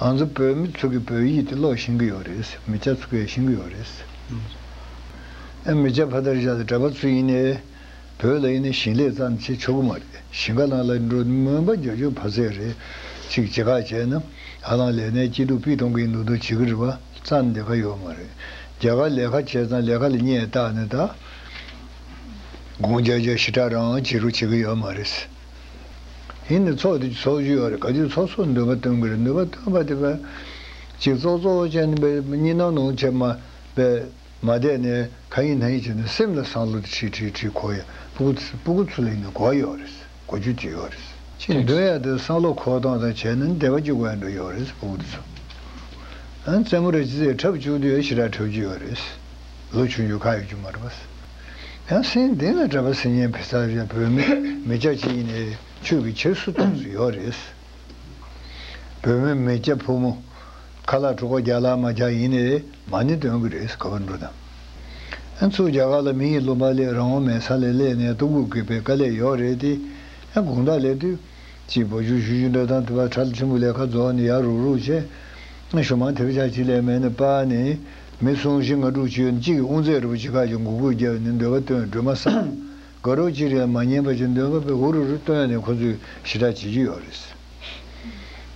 ང་ཚོ་བོད་མི་ཚོ་གི་བོད་ཡིག་དེ་ཀློག་ཤེས་ཀྱི་ཡོད་རེད། མི་སྐྱ་ཚོ་ཀྱ་ཤེས་ཀྱི་ཡོད་རེད། ཨེ་མི་སྐྱ་ཕ་དར་བཞག་དེ་གྲྭ་པ་ཚོ་ཡིན་ནའི། བོད་ལ་ཡིན་ནའི་ཞིང་ལས་ཙམ་བྱེད་ཆོག་གི་མ་རེད། ཞིང་ཁ་ནང་ལ་འགྲོ་དུས་མོན་པ་རྒྱ་ཆོས་ཕ་ཟེར་རེད། ཅིག་ཇི་ཁག་བྱས་ན། ཨ་ལང་ལས་ནའི་སྐྱིད་སྡུག་པི་ཐོང་གིན་འདུག་འདུག་བྱེད་ཀྱི་རེད་བ་ཙམ་དེ་ཁ་ཡོད་མ་རེད། རྒྱ་གར་ལས་ཁ་བྱས་ཙང་ལས་ཁ་ལ་བསྙད་བཏགས་ནས་ད། དགོངས་བརྒྱ་བརྒྱ་ཞི་དྲག་རང་བྱེད་རུ་བྱེད་ཀྱི་ཡོད་མ་རེད། ཡིན། ཡིན་ནི་ཚོགས་དེ་ཚོགས་བཞི་ཡོད་རེད་ག་དུས་ཚོགས་སོགས་འདོད་པ་སྟོན་གི་རེད་འདོད་པ་སྟོན་པ་དེ་བས་གཅིག་ཙོག་ཙོག་ཅན་པའི་གཉིས་སྣང་ནོངས་བྱེད་མ་པས་མ་བསྡད་ནས་ག་ཡིན་ན་ཡིན་བྱས་ནས་སེམས་ལ་བསམ་བློ་དེ་ཁྲིག་ཁྲིག་ཁྲིག་ཁོག་ཡ་སྤུ་གུ་སྤུ་གུ་ཚུ་ལ་ཡིན་ན་གོ་ཡོད་རེད་གོ་རྒྱུ་གྱི་ཡོད་རེད་ཅི་འདོད་ཡ་དེ་བསམ་བློ་ཁོག་སྟངས་དང་བྱས་ན་འདས་པ་གཅིག་གོ་ཡ་འགྲོ་ཡོད་རེད་སྤུ་གུ་དེ་ཚོ་རྩེད་མོ་རེ་བྱས་ཚེ་འཁྲབ་བཅུག་དུས་ཡ་ཕྱི་དྲག་འཁྲབ་རྒྱུ་ཡོད་རེད་ལོ་ཆུང་རྒྱུ་ག་ཡོད་རྒྱུ་མ་རེད། ཡང་སྲིད་འདི་ལ་གྲྭ་པ་སེར་སྙན་བེ་ཚ་བཞིན་བོད་མི་མི་སྐྱ་གཅིག་ཡིན་ནའི་ཆོས་ཀྱི་ཁྱེར་སུ་གཏོང་སུ་ཡོད་རེད། བོད་མི་མི་སྐྱ་ཕོ་མོ་ཁ་ལག་དྲུག་པ་རྒྱ་ལག་མ་རྒྱ་ཡིན་ནའི་མ་ནི་སྟོན་གི་རེད་ག་བར་འགྲོ་དང། ཨ་མཚོ་རྒྱ་གར་ལ་མི་ཡི་བློ་འབར་ལས་རང་དབང་མེད་ས་ལས་སླེ་ནས་ལྟོ་གུག་གི་བེ་ཀ་ལས་ཡོག་རེད་དེ། དགུང་ཟླ་ལས་དུས། གཅིག་བོ་ཅུག་ཞུ་ཞུ་འདྲ་དང་དུ་བ་ཁྲ་ལ་ཆུན་པོ་ལས་ཁ་རྫོགས་ནས་ཡར་རུག་རུག་བྱས། ཞོ་མང་ཐེབས་ཆག་གཅིག་ལས་མེད་ནས་པ་ནི། མི་སུམ་བཞི་ང་དྲུག་ཅུའི་གཅིག་གིས་དབུ་མཛད་རུ་ཇི་ཁག་ཅིག་འགུགས་འབུད་རྒྱབ་ནས་འདོད་པ་བཏོན་སྒྲོལ་མ་བསམ་དགའ་རོགས་གཅིག་རེད་མ་ཉན་པ་ཅིག་འདོད་པ་པའི་འུ་རུ་རུ་བཏོན་ནས་ཁོ་ཚོས་ཞི་དྲག་བྱེད་ཀྱི་ཡོད་རེད།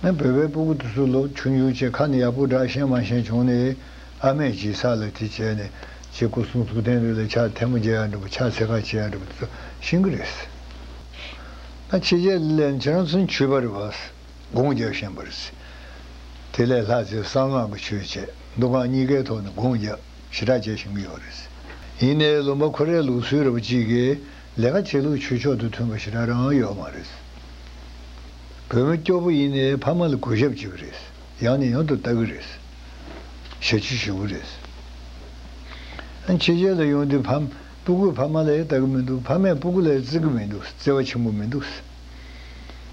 ང་བོད་པའི་སྤུ་གུ་དུ་སུ་ལོ་ཆུང་ཆུང་བཅས་ཁ་ནས་ཡག་པོ་བསྒྲགས་ཤེས་མ་ཤེས་བྱུང་ནས་ཨ་མས་ཇི་ས་ལ་དེ་བྱས་ནས་ཅེས་སྐུ་གསུང་ཐུགས་རྟེན་རེ་ལ་ཕྱག་ཐལ་མོ་རྒྱག་ཡག་འགྲུབ་པོ་ཕྱག་འཚལ་ཁ་བྱེད་ཡག་འགྲུབ་པོ་དེ་ཚོ་ཤེས་ཀྱི་རེད། ད་ཕྱི་རྒྱལ་ལས་ནས་ཁྱེད་རང་ཚོ་ནས་བྱུས་པ་རེད་བ། དགོངས་རྒྱབ་བཞིན་པར་བརྩི། དེ་ལས་ལྷ་རྫས་གསང་སྔགས་ཀྱི་ཆོས་བཅས་མདོ་སྔགས་གཉིས་ཀའི་ཐོག་ནས་དགོངས་རྒྱབ་ཞི་དྲག་བྱས་ཤིང་དབྱེ་བར་བརྩི། ཡིན་ནའི་ལུང་པ་ཁོ་རའི་ལུགས་སྲོལ་རབ་གཅིག་གི་ལས་ཀ་བྱེད་ལུགས་ཆོས་ཕྱོགས་དང་མཐུན་པ་ཞི་དྲག་རང་ཡོད་མ་རེད། བོད་མི་སྐྱོ་པོ་ཡིན་ནའི་ཕ་མ་ལ་གུས་ཞབས་བྱེད་ཀྱི་རེད། ཡང་ནས་ཡང་དུ་བལྟ་གི་རེད། བྱ་སྤྱོད་ཞི་བོ་རེད། ཕྱི་རྒྱལ་ལ་ཡོང་དུས་ཕམ་སྤུ་གུས་ཕ་མ་ལ་ཡི་བལྟ་གི་མི་འདུག་ཕ་མས་སྤུ་གུ་ལ་ཡི་བརྩི་གི་མི་འདུག་བརྩེ་བ་ཆེན་པོ་མི་འདུག།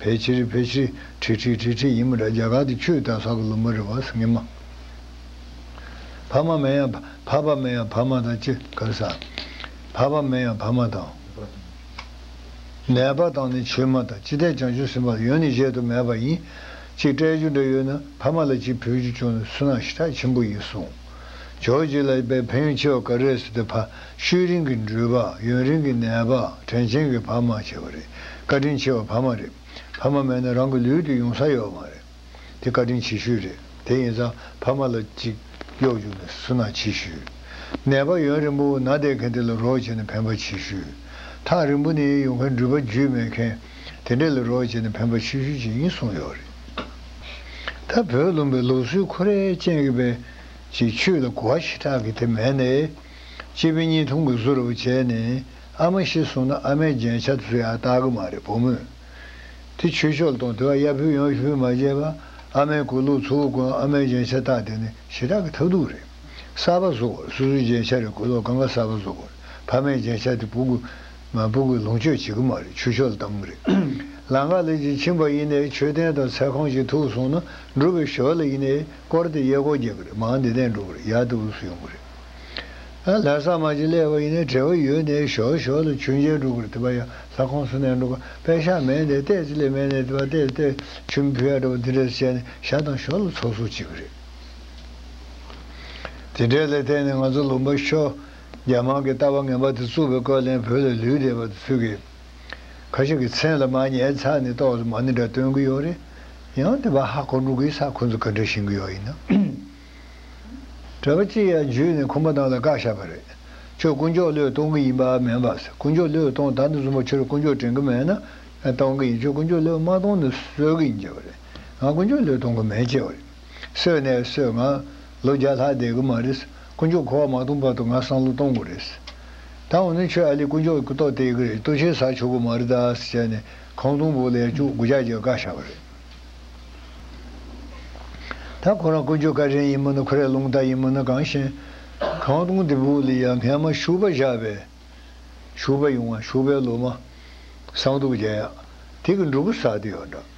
ཕལ་ཆེར་ཕལ་ཆེར་ཁྲི་ཁྲི་ཁྲི་ཁྲི་ཡིན་མོད་ར་རྒྱ་གར་དུ་ཆོས་དང་ལྷ་གི་ལུགས་མ་རེད་བ་ས་ངན་མ། ཕ་མ་མེན་ཡང་ཕ་ཕ་མེན་ཡང་ཕ་མ་དང་ཅི་དགར་ས། ཕ་ཕ་མེན་ཡང་ཕ་མ་དང། ནད་པ་དང་ནི་ཆོས་མ་དང་ཅི་ཐད་བྱང་ཆུབ་སེམས་དཔའ་ཡོན་ནི་གཞལ་དུ་མེད་པ་ཡིན། ཅིག་སྤྲད་རྒྱུ་འདྲ་ཡོད་ན་ཕ་མ་ལ་ཅིག་ཕུལ་རྒྱུ་བྱུང་ན་སུན་སྣང་ཞེ་དྲག་ཆེན་པོ་ཡིན་གསུང། ཇོ་རྗེ་ལ་པའི་ཕན་ཆོད་ཀ་རེ་སི་ཏི་ཕ་ཤུལ་རིང་གི་འགྲུལ་པ་ཡུན་རིང་གི་ནད་པ་དྲན་ཆེན་གི་ཕ་མ་བྱེད་པ་རེད་བཀའ་དྲིན་ཆེ་བ་ཕ་མ་རེད་ཕ་མ་མེད་ན་རང་གི་ལུས་དེ་ཡོང་ས་ཡོད་མ་རེད་དེ་བཀའ་དྲིན་ཆེ་ཤོས་རེད་དེ་ཡིན་ཙང་ཕ་མ་ལ་ཅིག་གཡོག་རྒྱུག་ནས་སུ་ན་ཆེ་ཤོས་ནད་པ་ཡོན་རིན་པོ་ན་བསྡད་མཁན་དེ་ལ་རོགས་བྱེད་ནས་ཕན་པ་ཆེ་ཤོས་ཐག་རིང་པོ་ནས་ཡོང་མཁན་འགྲུལ་པ་རྒྱུས་མེད་མཁན་དེ་འདྲ་ལ་རོགས་བྱེད་ནས་ཕན་པ་ཆེ་ཤོས་ཅིག་ཡིན་གསུངས་ཡོད་རེད། ད་བོད་ལུང་པའི་ལུགས་སྲོལ་ཁོ་རས་ཅན་གྱི་བན་གྱི་ཆོས་ལ་གོ་བ་ཞེ་དྲག་གི་དེ་མེད་ནས། སྐྱེས་བུ་གཉིས་ཐུང་གི་བཟོ་རུ་བྱས་ནས་ཨ་མ་ཤི་སོང་ན་ཨ་མའི་རྒྱན་ཆ་བཟོ་ཡག་བལྟ་གི་མ་རེད་བུ་མོས་དེ་ཆོས་ཕྱོགས་ལ་གཏོང་དེ་བ་གཡར་བུས་ཡང་ཤི་བོས་མ་བརྗེད་པ་ཨ་མའི་གོས་ལུག་ཚོ་བོ་ཀུན་ཨ་མའི་རྒྱན་ཆ་བལྟ་དེ་ནི་ཞེ་དྲག་གི་ཐབས་སྡུག་རེད་གསར་པ་བཟོ་བར་སོ་སོའི་རྒྱན་ཆ་རེད་གོས་ལོག་གང་ག་གསར་པ་བཟོ་དགོས་ཕ་མའི་རྒྱན་ཆ་དེ་བུ་གུ་ང་སྤུན་གྱི་ལོངས་སྤྱོད་བྱེད་གི་མ་རེད་ཆུ་ཤོལ་དམ་རེད་ལ་ང་ལས་ཀྱི་ཁྱིམ་པ་ཡིན་ནའི་མཆོད་རྟེན་དང་ཚལ་ཁང་ཞིག་ཐུག་སོང་ན་འགྲུབ་བའི་ཞོལ་ལ་ཡིན་ནའི་བསྐོར་ཏེ་གཡས་སྐོར་རྒྱག་གི་རེད་མང་འདི་དན་འགྲོ་གི་རེད་ཡར་དུ་འུ་སུ་ཡོང་གི་རེད་ཨ་ལྷ་ས་མ་ཅིག་ལས་བ་ཡིན་ནའི་བྲེལ་བ་ཡོད་ནའི་ཞོལ་ཞོལ་ལ་ཆུ་མཇལ་འགྲོ་གི་རེད་དེ་པ་ཡ་ལྷ་ཁང་སུ་ནས་འགྲོ་ག་པའི་ཤ་མེད་ནའི་ལྟས་ཅི་ལས་མེད་ནའི་དེ་པ་ལྟས་ལྟས་ཆུ་མི་ཕུ་ཡ་འདྲ་བ་འདི་འདྲ་ཟེར་བྱས་ནས་ཞག་དང་ཞོར་ལ་ཚོགས་གསོག་བྱེད་གི་རེད་དེ་འདྲས་ལས་ཐད་ནས་ང་ཚོ་ལུང་པ་ཤོ། རྒྱ་དམར་གྱི་ལྟ་བ་ངན་པ་དེ་རྩུབ་པའི་སྐོར་གླེང་བོད་ལ་ལུས་བསྡད་པ་དེ་ཚོད་ཀྱིས། ཁ་ཞིག་གི་མཚན་ལ་མ་ཉན་ཚ་ནས་ཏོག་ལ་མ་ནི་འདྲ་སྟོན་གྱི་ཡོད་རེད། ཡང་དེ་བ་ཧ་གོ་འགྲོ་གི་ས་ཁོ་ཚོ་ག་འདྲ་བཞིན་གྱི་ཡོད་ཡིན་ནམ། གྲྭ་པ་གཅིག་ཡར་འཇུས་ནས་ཁོམ་པ་དང་ལ་བཀག་བཞག་པ་རེད། ཁྱོད་དཀོན་མཆོག་བློས་གཏོང་གི་ཡིན་པ་མིན་པ་ཟེར་དཀོན་མཆོག་བློས་གཏོང་ད་ནི་བཟུང་བ་ཁྱོད་དཀོན་མཆོག་དྲན་གི་མེད་ན་གཏོང་གི་ཡིན་ཁྱོད་དཀོན་མཆོག་བློས་མ་གཏོང་ནི་བཟོད་གི་ཡིན་བྱས་པ་རེད། ང་དཀོན་མཆོག་བློས་གཏོང་གི་མེད་བྱས་པ་རེད། སོས་ནས་སོས་ང། ལོ་བརྒྱ་ལྷག་བསྡད་གི་མ་རེད། དཀོན་མཆོག་གོ་བ་མ་གཏོང་བར་དུ་ང་སང་ལོ་གཏོང་དགོས་རེད། ད་འོ་ནི་ཁྱོད་ཨ་ལི་དཀོན་མཆོག་གི་སྐུ་ཐོག་བསྟད་གི་རེད་ལྟོ་ཆའི་ཟག་ཆོག་གི་མ་རེད་ད་ཟེར་བྱས་ནས་ཁང་སྟོང་པོ་ལས་བཅུག་དགུ་བརྒྱ་བརྒྱ་བཀའ་བཞག་རེད། ད་ཁོ་རང་དཀོན་མཆོག་བཀའ་དྲིན་ཡིན་མོད་ན་ཁོ་རས་རླུང་རྟ་ཡིན་མོད་ན་གང་ཞེན། ཁང་སྟོང་དེ་པོ་ལས་ཡང་ངྷན་མ་བཞུགས་པ་བཞག་པས། བཞུགས་པ་ཡོང་ང་བཞུགས་པའི་ལོ་མ། སང་དུ་བརྒྱ་ཡག། དེ་གི་འབྲུ་གུ་ཟག་དེ་ཡོད་འདྲ།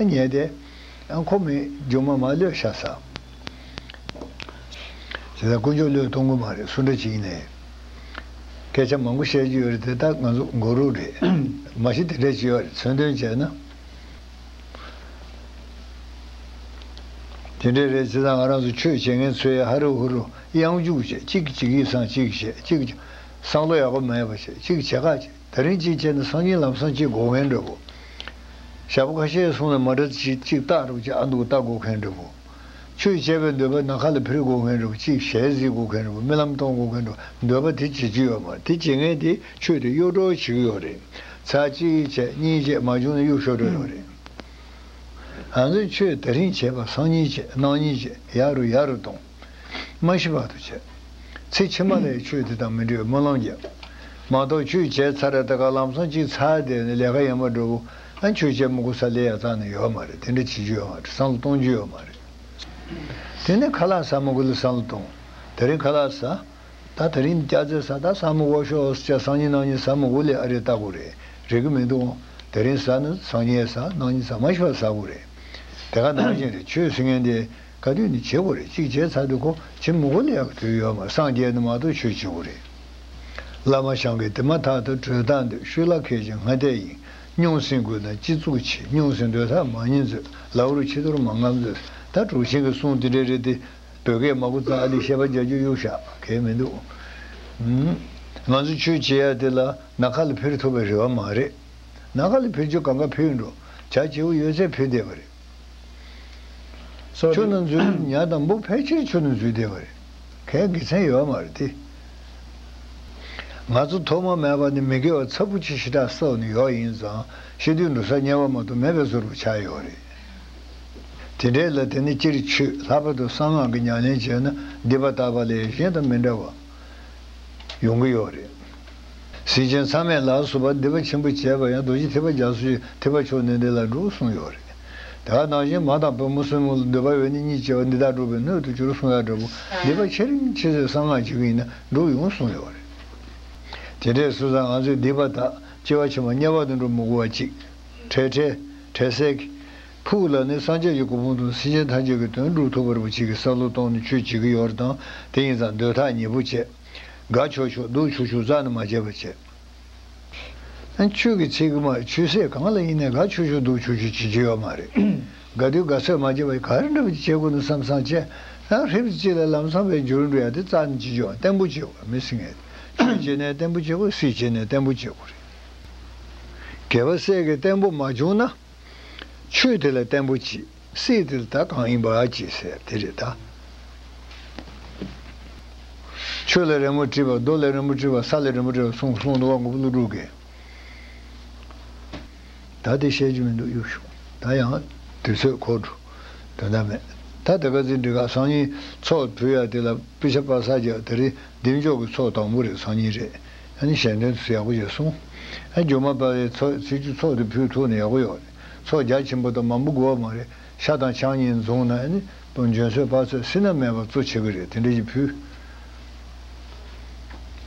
ཉལ་ཏེ། ཁོ་མོས་སྒྱུ་མ་མ་ལོས་ཤ་ཟ། དེ་དག་དཀོན་མཆོག་བློས་གཏོང་གི་མ་རེད་སུ་འདྲ་ཅིག་ནས་སྐད་ཆ་མང་པོ་བཤད་རྒྱུ་ཡོད་རེད་དེ་དག་ང་ཚོ་མགོ་རུལ་རེད་མ་གཞི་དེ་འདྲའི་བྱིས་བ་རེད་མཚོན་དོན་བྱས་ན་དེ་འདྲས་རེད་བྱས་ཙང་ང་རང་ཚོ་ཆོས་བྱེད་མཁན་ཚོའི་ཧ་རུ་ཧུ་རུ་དབྱངས་འཇུག་བྱེད་ཅིག་ཅིག་ཡིད་བཟང་ཅིག་བྱེད་ཅིག་བསམ་བློ་ཡག་པོ་མེད་པ་བྱེད་ཅིག་བྱེད་ཁ་ད་རིང་གཅིག་བྱས་ན་སང་ཉིན་ལམ་སང་གཅིག་དགོ་མཁན་འདྲ་བོ། ཞྭ་པོ་ཁ་ཤས་གསུང་ན་མ་འདྲ་ཚེ་གཅིག་བཏགས་རོགས་ཀྱི་ཨ་འདུག་བཏགས་དགོ་མཁན་འདྲ་བོ། ཆོས་བྱས་པའི་འདོད་པ་ན་ཁ་ལ་ཕིར་དགོ་མཁན་འདྲ་བོ་གཅིག་ཞལ་གཟིགས་དགོ་མཁན་འདྲ་བོ་རྨི་ལམ་གཏོང་དགོ་མཁན་འདྲ་བོ་འདོད་པ་དེ་བྱེད་རྒྱུ་ཡོད་མ་དེ་བྱེད་མཁན་དེ་ཆོས་དེ་གཡོ་བྲོ་བྱེད་ཀྱི་ཡོད་རེད་ཚ་གཅིག་བྱས་གཉིས་བྱས་མ་བྱུང་ན་གཡུག་ཤོར་འགྲོ་ཡོད་རེད། ང་ཚོས་ཆོས་ད་རིང་བྱས་པ་སང་ཉིན་བྱས་གནངས་ཉིན་བྱས་ཡག་རུ་ཡག་རུ་གཏོང། སྨྲ་ཤེས་པ་དང་བྱེད། ཚེ་ཕྱི་མ་ལས་ཆོས་དེ་དང་མི་འབྲལ་བའི་སྨོན་ལམ་རྒྱབ། མ་གཏོགས་ཆོས་བྱས་ཚར་རེ་ད་ག་ལམ་སང་ཅིག་ཚར་བསྡད་ནས་ལས་ཀ་ཡང་མ་འགྲུབ་བོ། ཨ་ཆོས་བྱས་མི་གོ་ས་ལས་ཡག་ཙང་ནི་ཡོད་མ་རེད་དེ་འདྲ་བྱེད་རྒྱུ་ཡོད་མ་རེད་བསམ་བློ་གཏོང་རྒྱུ་ཡོད་མ་རེད། དེ་ནས་ཁ་ལག་ཟ་མ་གོ་ལ་བསམ་བློ་གཏོང། ད་རིང་ཁ་ལག་ཟ། ད་ད་རིང་སྐྱ་རྫས་ཟ་ད་སང་མི་གོ་ཤོག་ཨོ་སྐྱ་སང་ཉིན་གནང་ཉིན་ཟ་མི་གོ་ལས་ཨ་རེ་ལྟ་གོ་རེད་རེད་གི་མི་འདུག་ཨོ་ད་རིང་ཟ་ནི་སང་ཉིན་ཨེ་ཟ་གནང་ཉིན་ཟ་མ་ཤོག་ཟ་གོ་རེད་དེ་ག་ནང་བཞིན་རེད་ཆོས་ཟེར་མཁན་དེ། ག་དུས་ནི་བྱེད་དགོས་རེད་གཅིག་བྱས་ཚར་དུས་ཁོ་བྱེད་མི་དགོས་ན་ཡག་དུས་ཡོད་མ་སངས་རྒྱས་ནི་མ་གཏོགས་ཆོས་བྱེད་དགོས་རེད། བླ་མ་ཞང་གིས་དེ་མ་ཐག་ཏུ་གྲོས་སྟངས་འདི་ཤུ་ལ་ཁད་ཅིང་སྔ་ལྟས་ཡིན་རྙོང་སེང་དགོས་ན་སྤྱི་གཙུག་ཆེ་རྙོང་སེང་འདོད་ཐག་མ་ཉེ་མཛོད་ལག་རུ་ཕྱི་དོར་མ་རྔམ་མཛོད་ད་དྲུག་ཆེན་གི་གསུང་དེ་འདྲས་རེད་དེ་བོད་སྐད་མ་གོ་ཙག་འདི་བཤད་པ་རྒྱ་རྒྱུ་གཡུག་ཤ་གས་མི་འདུག་ང་ཚོ་ཆོས་བྱེད་ཡ་དེ་ལ་ན་ག་ལ་ཕེར་ཐུབ་པའི་རེ་བ་མ་རེད། ན་ག་ལ་ཕེར་རྒྱུ་གང་ག་ཕེར་འགྲོ་བྱ་བྱེད་པོ་ཡོད་ཚད་ཕེར་བསྡད་པ་རེད། ཆོས་རྣམས་རྫུན་ཉག་དང་པོ་ཕལ་ཆེར་ཆོས་རྣམས་རྫུན་བསྡད་པ་རེད། གས་དགེ་མཚན་ཡོད་མ་རེད་དེ། ང་ཚོ་ཐོག་མ་མེད་པ་ནས་མི་དགེ་བ་ཚབ་པོ་ཆེ་ཞེ་དྲག་སོགས་ནི་ཡོག་ཡིན་ཙང་ཤེས་དུས་འགྲོ་ས་ཉེ་བ་མ་གཏོགས་མེད་པའི་བཟོ་རུ་ཆགས་ཡོག་རེད། དེ་འདྲའི་ལ་དེ་ནི་སྤྱིར་ཆོས་ལྷག་པ་དང་གསང་སྔགས་ཀྱི་ཉམས་ལེན་བྱས་ན་འདི་པ་ལྟ་བ་ལས་གཞན་དང་མི་འདྲ་བ། ཡོང་གི་ཡོད་རེད། གཟི་བྱིན་ཚང་མས་ལག་བསུ་བ་འདི་པ་ཆེན་པོ་བྱས་པ་ཡང་རྡོ་རྗེ་ཐེག་པ་རྒྱ་མཚོ་ཆེ་ཐེག་པ་མཆོག་ནས་འདི་ལ་འགྲོ་གསུངས་ཡོད་རེད། དེ་ག་ནང་བཞིན་མ་དང་བུ་མོ་སྲིང་མོ་ལ་འདོད་པ་འོད་ནི་གཉིས་བྱས་པ་འདི་དག་འགྲོ་བའི་སྣོད་དུ་གྱུར་གསུངས་ཡ་འདྲ་བོ་འདི་པ་ཆེ་རིང་ཆེ་ཚོས་གསང་སྔགས་བྱེད་ཀྱི་ཡིན་ན་འགྲོ་ཡོང་གསུངས་ཡོད་རེད། དེ་འདྲས་སུ་ས་ང་ཚོས་འདི་པ་དག་སྐྱེ་བ་ཕྱི་མ་དམྱལ་བ་དུ་འགྲོ་མི་དགོ་བ་ཅིག། ཁྲེལ་ཁྲེལ། ཁྲེལ་སེལ། ཕུགས་ལ་ནི་སངས་རྒྱས་ཀྱི་སྐུ་ཕུང་དང་སེམས་ཅན་ཐམས་ཅད་ཀྱི་དོན་སྒྲུབ་ཐུབ་པར་བུ་ཆིག་གི་བསམ་བློ་གཏོང་ནས་ཆོས་བྱེད་ཀྱི་ཡོད་ར་དང་དེ་ཡིན་ཙང་འདོད་ཐག་ཉེ་པོ་བཅད། དགའ་ཆོག་ཆོག་སྡུག་ཆུག་ཆུག་རྩ་ནས་མ་བྱས་པར་བྱས། ཆོས་ཀྱི་ཚིག་གི་མ་ཆོས་ཟས་གང་ལ་ཡིན་ནས་དགའ་ཆོག་ཆོག་སྡུག་ཆུག་ཆུག་བྱེད་ཀྱི་ཡོད་མ་རེད། དགའ་སྡུག་དགའ་ཚོད་མ་བྱས་པར་ག་རེ་འདྲ་བོ་ཅིག་བྱེད་དགོས་ན་བསམ་བསམ་བྱས། ཡང་ཧྲིབ་ཏུ་ཅི་ལ་ལམ་སང་བས་འགྱུར་འགྲོ་ཡ་དེ་རྩ་ནས་ཅི་བྱེད་ཨང་བརྟན་པོ་བྱེད་དགོས་མི་སྲིད་ངེས། ཆོས་བྱེད་ནས་བརྟན་པོ་བྱེད་དགོས་སྲིད་བྱེད་ནས་བརྟན་པོ་བྱེད་དགོས་རེད། གལ་བ་སྲས་ཀྱི་བརྟན་པོ་མ་བྱུང་ན། ཆོས་དེ་ལ་བརྟན་པོ་ཅི་སྲིད་དེ་ལ་ད་གང་ཡིན་པ་ཅི་ཟེར་དེ་རེད་ད། ཆོས་ལ་རེ་མོ་དྲིས་པ་རྡོ་ལ་རེ་མོ་དྲིས་པ་ས་ལ་རེ་མོ་དྲིས་པ་གསུངས་གསུངས་འདུག་བ་འགོ་བོ་ཀླུ་སྒྲུབ་ཀྱིས། ད་དེ་བཤད་རྒྱུ་མི་འདུག་གཡུགས་བྱུང་ད་ཡང་དུས་ཚོད་འཁོར་འགྲོ་དོན་དག་མེད་ད་དེ་ག་ཚིག་འབྲི་ག་སང་ཉིན་ཚོགས་དྲུད་ཡ་དེ་ལ་པི་ཆ་པ་ས་རྒྱག་དེ་རིང་འདེམས་འཇོག་གི་ཚོགས་དང་པོ་རེད་སང་ཉིན་རེད་གཞན་དོན་དུ་ཡག་པོ་བྱེད་གསུང། རྒྱུ་མ་དཔའ་བའི་ཚོགས་ཚིག་གཅིག་ཚོགས་འདི་ཕུལ་ཐུག་ནས་ཡག་པོ་ཡོད། ཚོགས་རྒྱ་ཆེན་པོ་དང་མང་པོ་དགོས་པ་མ་རེད་ཤ་དང་ཆང་གཉིས་འཛོང་ན་ནི་དང་འཇོན་ཚོད་དཔག་ཚོད་སྲིད་ན་མེད་པ་གཙོ་ཆེ་གི་རེད་དེ་འདྲ་གྱི་ཕུལ།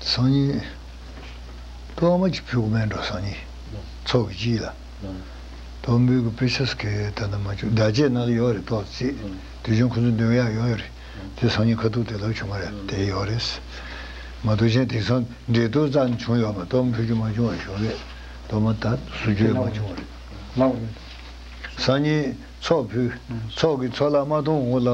སང་ཉིན། སྟོད་མ་གྱི་ཕུལ་གོ་མེད་འགྲོ་སང་ཉིན། ཚོགས་ཀྱི་སྤྱི་ལ། སྟོད་འབུལ་གི་དཔེ་ཆ་སི་ཁའི་ད་ནི་མ་བཅུག་བདག་བཅས་ནང་ལ་ཡོད་རེད་ཏོག་ཙིས་དུས་ཆེན་ཁོ་ཚོ་འདུན་ཡག་ཡོད་རེད། དེ་སང་ཉིན་ཁ་ཐུག་དེ་ལྟར་བྱུང་བ་རེད་དེ་ཡོད་རེད། མ་གཏོགས་གཞན་དེང་སང་འབྲེལ་གཏུག་ཙམ་བྱུང་ཡོད་མ་གཏོགས་འཕུད་རྒྱུ་མ་བྱུང་བ་ཞོར་ལས་དོ་མ་དར་བཟོ་རྒྱུ་ཡང་མ་བྱུང་བ་རེད། སང་ཉིན་ཚོགས་ཕུད་ཚོགས་ཀྱི་ཚོགས་ལ་མ་གཏོང་འོང་ལ།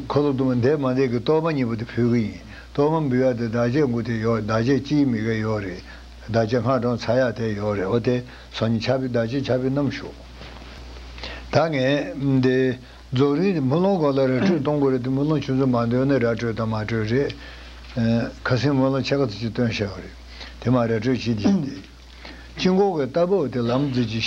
འཁོར་ལོ་དུ་མ་འདས་མ་འདས་ཀྱི་གཏོར་མ་གཉིས་པོ་དེ་ཕུལ་གྱི་ཡིན་གཏོར་མ་འབུལ་ཡ་དེ་བདག་ཅག་མགུ་དེ་ཡོད་བདག་ཅག་སྤྱིའི་མི་ག་ཡོད་རེད་བདག་ཅག་སྔ་དྲོང་ཚ་ཡག་དེ་ཡོད་རེད་འོ་དེ་སང་ཉིན་ཆ་ཕི་བདག་ཅག་ཆ་ཕི་གནང་ཞོག་ད་ངས་དེ། རྫོགས་རིམ་དེ་དམུས་ལོང་གང་ལ་ར་སྤྲོད་གཏོང་དགོས་རེད་དེ་དམུས་ལོང་ཆུ་མཛོད་མ་འདོན་ན་ར་སྤྲོད་དང་མ་སྤྲོད་རེད། ཁ་སེང་དམུས་ལོང་ཆ་ག་ཚོད་ཅིག་སྟོན་ཤག་རེད་དེ་མ་ར་སྤྲོད་བྱེད་ཀྱིན་དེ། སྤྱི་འགོག་གི་རྟ་བབས་དེ་ལམ་འཛེག་ཅིག་ཤ།